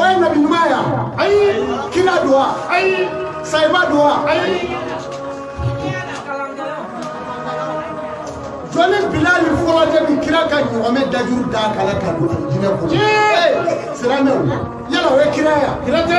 Wai na bin maya, ai, kina duwa, ai, sai ba duwa, ai. Jɔni bilali fɔlɔ de bi kira ka ɲɔgɔmɛ dajuru ta kala ka don alijinɛ kɔnɔ. Siran ne yala o ye kira ye wa? Kira tɛ.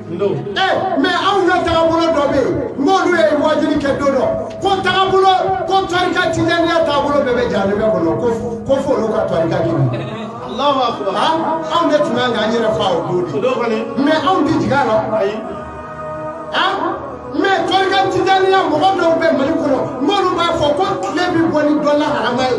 ɛ mɛ anw ka tagabolo dɔ bɛ yen n'olu ye wajuli kɛ don dɔ ko tagabolo ko tɔrika tijaniya taabolo bɛɛ bɛ jahanama kɔnɔ ko ko fo olu ka tɔrika k'i minɛ. anw de tun ka kan k'an yɛrɛ fa o don de mɛ anw tɛ jigin a la mɛ tɔrika tijaniya mɔgɔ dɔw bɛ mali kɔnɔ n'olu b'a fɔ ko tile bɛ bɔ ni dɔ laharama ye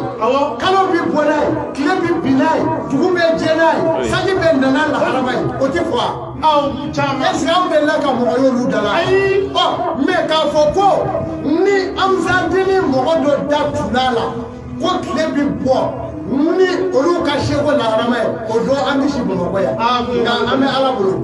kalo bɛ bɔ n'a ye tile bɛ bin n'a ye dugu bɛ jɛ n'a ye sanji bɛ na n'a laharama ye o tɛ fɔ wa aw caman est-ce que aw delila ka mɔgɔ y'olu da la ayi ɔ mɛ k'a fɔ ko ni ansaridini mɔgɔ dɔ da tun b'a la ko tile bi bɔ ni olu ka seku laharama ye o don an tɛ si bamakɔ yan nka an bɛ ala bolo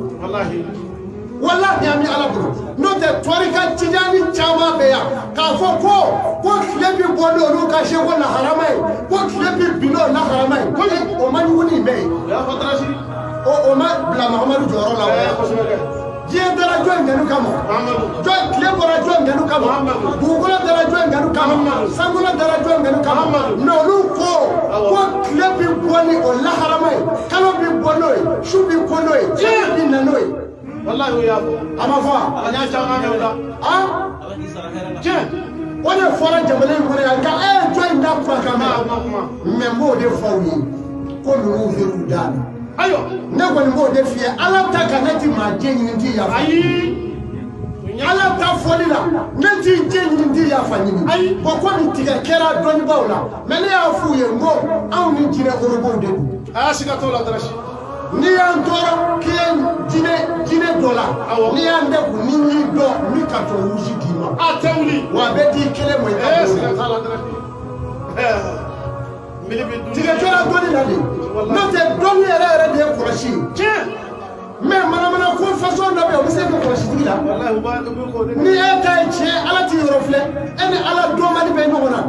walahi an bɛ ala bolo n'o tɛ tɔrika tijani caman bɛ yan k'a fɔ ko ko tile bi bɔ ni olu ka seku laharama ye ko tile bi bin n'o laharama ye ko o man jugu ni bɛɛ ye. o o ma bila mahamadu jɔyɔrɔ la diɲɛ dara jɔn kanu kama tile bɔra jɔn kanu kama dugukolo dara jɔn kanu kama sankolo dara jɔn kanu kama mɛ olu ko ko tile bi bɔ ni o laharama ye kalo bi bɔ n'o ye su bi ko n'o ye fiɲɛ bi na n'o ye wallahi o y'a fɔ a ma fɔ a y'a caman mɛn u da a tiɲɛ o de fɔra jamana in kɔnɔ yan ka e ye jɔnni da kumakan mɛn n b'o de fɔ u ye ko ninnu bɛ k'u da la ayiwa ne kɔni b'o de f'i ye ala ta kan ne ti maa jɛ ɲini n ti yafa ayi ala ta fɔli la ne ti jɛ ɲini n ti yafa ɲini ayi bɔn ko nin tigɛ kɛra dɔnnibaaw la mɛ ne y'a f'u ye n ko anw ni jinɛ orobow de don a y'a siga t'o la darasi n'i y'an tɔɔrɔ k'i ye diinɛ diinɛ dɔ la awɔ n'i y'an dɛgun n'i y'i dɔn n bɛ karisa wusi d'i ma a tɛ wuli wa a bɛ d'i kelen ma i ka ee siga t'a la dɔrɔn mili bɛ dun tigɛ jɔra dɔnni na de n'o tɛ dɔnni yɛrɛ yɛrɛ de ye kɔlɔsi ye tiɲɛ mɛ manamana ko fasɔn dɔ bɛ yen o bɛ se ka kɛ kɔlɔsi tigi la walayi u b'a u bɛ k'o de ni e ta ye tiɲɛ ala t'i yɔrɔ filɛ e ni ala dɔnbali bɛ ɲɔgɔn na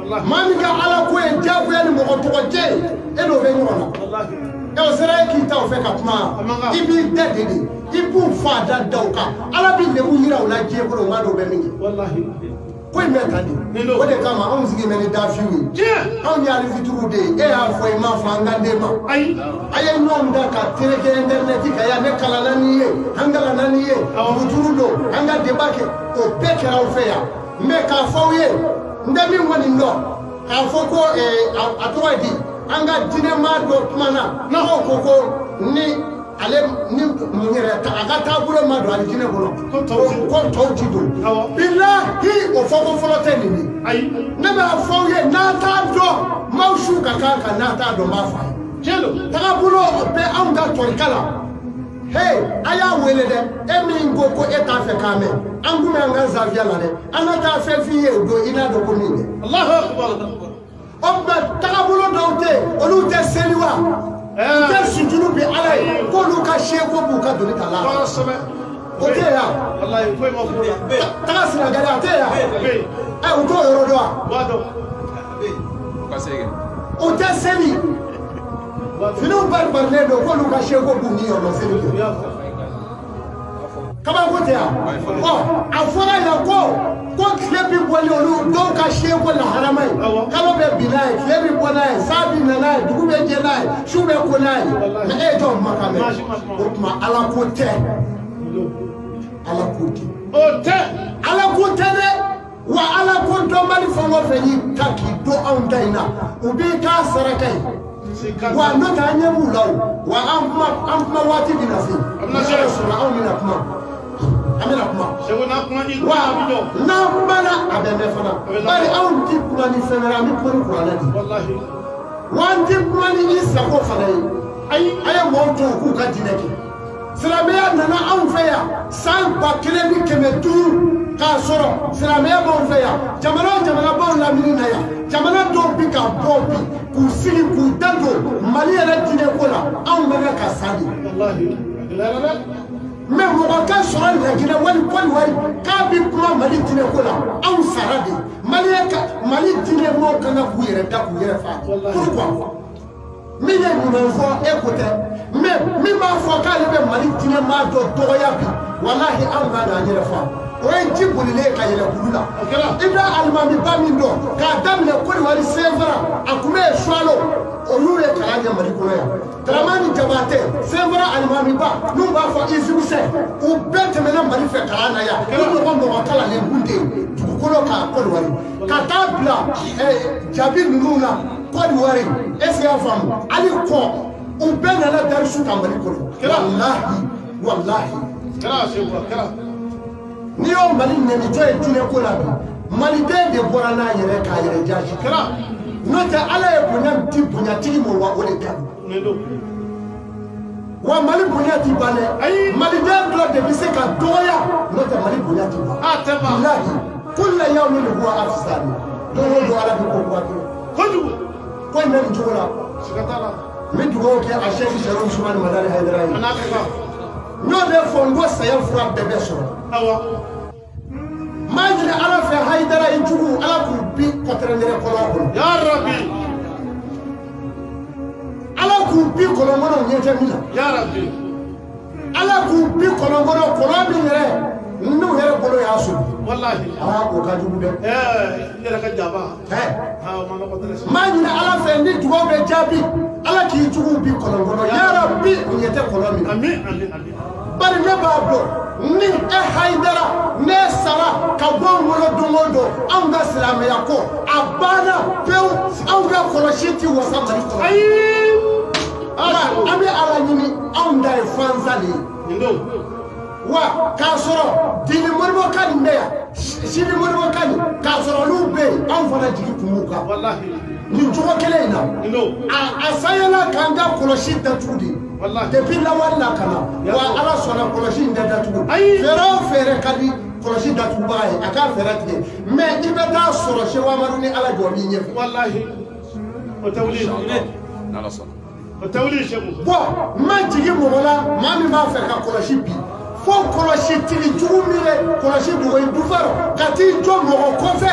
maa min ka ala ko ye diyagoya ni mɔgɔ tɔgɔ tiɲɛ ye e n'o bɛ ɲɔgɔn na ɛ o sera e k'i to u fɛ ka kuma i b'i dade de i b'u fa da da o kan ala bɛ lebu yira u la diɲɛ kɔnɔ maa dɔw bɛ min kɛ ko in bɛ tan de o de kama anw sigi bɛ ni dafiw ye anw ye alifituru de ye e y'a fɔ i m'a fɔ an ka den ma a ye ɲɔgɔn ta ka tereke interinɛti kan yan ne kalanna n'i ye an kalanna n'i ye muturu don an ka deba kɛ o bɛɛ kɛra aw fɛ yan n bɛ k'a fɔ aw ye n tɛ min kɔni dɔn k'a fɔ ko a tɔgɔ ye di an ka diinɛmaa dɔ kumana n'aw ko ko ni ale ni mun yɛrɛ a ka taabolo ma don a diinɛ kɔnɔ ko tɔw ti don bilahi o fɔko fɔlɔ tɛ nin ye ne b'a fɔ aw ye n'a t'a dɔn m'aw su ka kan ka n'a t'a dɔn n b'a fɔ a ye tagabolo bɛ anw ka tɔrika la Hey, a y'a wele dɛ e min ko ko e t'a fɛ k'a mɛn an kun bɛ an ka zawiya la dɛ an ka taa fɛn f'i ye o don i n'a dɔn ko min dɛ alahu akubar o tuma tagabolo dɔw tɛ yen olu tɛ seli wa u tɛ sujudu bin ala ye k'olu ka seku b'u ka doni ta la o tɛ yen yan taga senegali a tɛ yen yan ɛ u t'o yɔrɔ dɔn wa o tɛ seli finiw baribarilen don k'olu ka seku b'u niyɔrɔ seli don kabako tɛ yan ɔ a fɔra yan ko ko tile bɛ bɔ ni olu dɔw ka seku lahɔrɔma ye kalo bɛ bin n'a ye tile bɛ bɔ n'a ye san bɛ na n'a ye dugu bɛ jɛ n'a ye su bɛ ko n'a ye mɛ e jɔ makan bɛ o tuma ala ko tɛ ala ko tɛ o tɛ ala ko tɛ dɛ. wa ala ko dɔnbali fɛn o fɛn y'i hakili to anw ta in na u b'i k'a saraka ye wa n'o tɛ an ɲɛ b'u la o wa an kuma an kuma waati bɛ na se n'a y'a sɔrɔ anw bɛna kuma an bɛna kuma wa n'an kumana a bɛ mɛn fana bari anw tɛ kuma ni fɛn wɛrɛ an bɛ kuma ni kuranɛ de ye wa an tɛ kuma ni i sago fana ye ayi a ye mɔgɔw to u k'u ka diinɛ kɛ. silamɛya nana anw fɛ yan san ba kelen ni kɛmɛ duuru k'a sɔrɔ silamɛya b'anw fɛ yan jamana o jamana b'anw lamini na yan jamana dɔw bi ka bɔ bi k'u sigi k'u da don mali yɛrɛ diinɛ ko la anw bɛ kɛ ka sa de mɛ mɔgɔ ka sɔrɔ laginɛ wali kodiwari k'a bi kuma mali diinɛ ko la anw sara de mali diinɛ mɔgɔw ka kan k'u yɛrɛ ta k'u yɛrɛ fa pourquoi min ye ɲuman fɔ e ko tɛ mais min b'a fɔ k'ale bɛ mali diinɛ maa dɔ dɔgɔya bi walahi anw b'a dɔn an yɛrɛ fa o ye ji bolilen ye ka yɛlɛ kulu la i bɛ alimamiba min dɔn k'a daminɛ kodiwari senfara a tun bɛ yen suwalo olu ye kalan kɛ mali kɔnɔ yan daramani jabatɛ senfara alimamiba n'u b'a fɔ izimisɛ u bɛɛ tɛmɛna mali fɛ kalan na yan u mɔgɔ mɔgɔ kalannen kun tɛ yen dugukolo kan kodiwari ka taa bila jabi ninnu na kodiwari est-ce i y'a faamu hali kɔ u bɛɛ nana darisu kalan mali kɔnɔ walahi walahi n'i y'o mali nɛnitɔ ye diinɛ ko la bi maliden de bɔra n'a yɛrɛ k'a yɛrɛ jaasi n'o tɛ ala ye bonya di bonyatigi ma wa o de ka ɲi wa mali bonya ti ban dɛ maliden dɔ de bɛ se ka dɔgɔya n'o tɛ mali bonya ti ban bilahi kulla yawmin huwa fi sani don o don ala bɛ ko kura kɛ kojugu ko in bɛ nin cogo la n bɛ dugawu kɛ asɛki sɛrifu usumani madani hayidara ye n y'o de fɔ n ko saya fura tun bɛ sɔrɔ n b'a ɲini ala fɛ hayidara i jugu ala k'u bin kɔtɛrɛndɛrɛ kɔlɔn kɔnɔ ya rabi ala k'u bin kɔlɔn kɔnɔ u ɲɛ tɛ min na ya rabi ala k'u bin kɔlɔn kɔnɔ kɔlɔn min yɛrɛ n'u yɛrɛ bolo y'a sɔgɔ walahi aa o ka jugu dɛ n yɛrɛ ka jaba n b'a ɲini ala fɛ ni dugawu bɛ jaabi ala k'i juguw bin kɔlɔn kɔnɔ ya rabi u ɲɛ tɛ kɔlɔn min na bari ne b'a dɔn ni e hayidara in sara ka bɔ an kɔrɔ don o don anw ka silamɛya ko a banna pewu anw ka kɔlɔsi ti wasa mali kɔnɔ ayi ala an bɛ ala ɲini anw da ye fansa de ye wa k'a sɔrɔ dini moribo ka nin bɛ yan sini moribo ka nin k'a sɔrɔ olu bɛ yen anw fana jigi tun b'u kan nin cogo kelen in na a sayɛla k'an ka kɔlɔsi datugu de depuis lawale la ka na wa ala sɔnna kɔlɔsi in tɛ datugu fɛɛrɛ o fɛɛrɛ ka di kɔlɔsi datugubaga ye a k'a fɛɛrɛ tigɛ mais i bɛ taa sɔrɔ seku amadu ni ala jɔ min ɲɛfɛ walahi o tɛ wuli n'ala sɔnna o tɛ wuli seku bon n ma jigin mɔgɔ la maa min b'a fɛ ka kɔlɔsi bin fo kɔlɔsi tigi jugu min bɛ kɔlɔsi dogo i dufa rɔ ka t'i jɔ mɔgɔ kɔfɛ